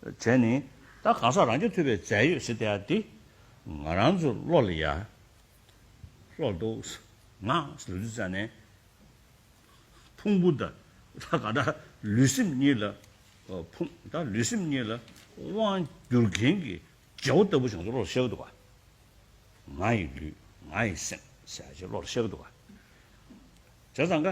བྱས་ནི། ད་གང་ཟག་རང་གི་ཐུབ་པའི་རྫས་ཡོད་སྲིད་དེ་ཡང་འདི། ང་རང་ཚོ་བློ་ལ་ཡ། ལྷོག་འདུག། ང། ལུས་འདི་བཙལ་ནས། ཕུང་པོ་དང། ད་ག་ད་ལུས་སེམས་གཉིས་ལ། ཕུང། ད་ལུས་སེམས་གཉིས་ལ། དབང། སྒྱུར་མཁན་གྱི། རྗེ་བོ་ལྟ་བུ་བྱང་ཚོ་བློ་ལ་ཤར་གི་འདུག་ག། ང་ཡི་ལུས། ང་ཡི་སེམས། ཟེར་བྱེད་བློ་ལ་ཤར་གི་འདུག་ག། བྱས་ཙང་ག།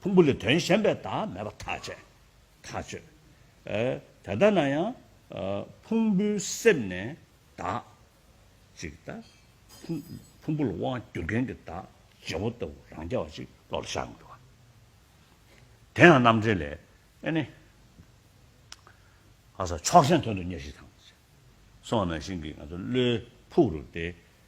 ཕུང་པོ་ལས་དོན་གཞན་པའི་བདག་མེད་པ་ཐག་བཅད། ཐག་གཅོད། དེ་ལྟ་ན་ཡང། ཕུང་པོའི་གསེབ་ནས་བདག། ཅིག་ལྟ། ཕུང་པོ་ལ་དབང་བསྒྱུར་མཁན་གྱི་བདག། བྱེད་པོ་ལྟ་བུ་རང་རྐྱ་བ་ཅིག་བློ་ལ་ཤར་མི་འགྲོ་བ། དེ་ཡང་རྣམ་འགྲེལ་ལས། ཨེ་ནི། ལྷ་ས་ཕྱོགས་ཞེན་དོན་དུ་གཉེར་ཞིག་དང། སོགས་ནང་བཞིན་གྱི་ང་ཚོ་བློའི་ཕུག་རུ་སྟེ།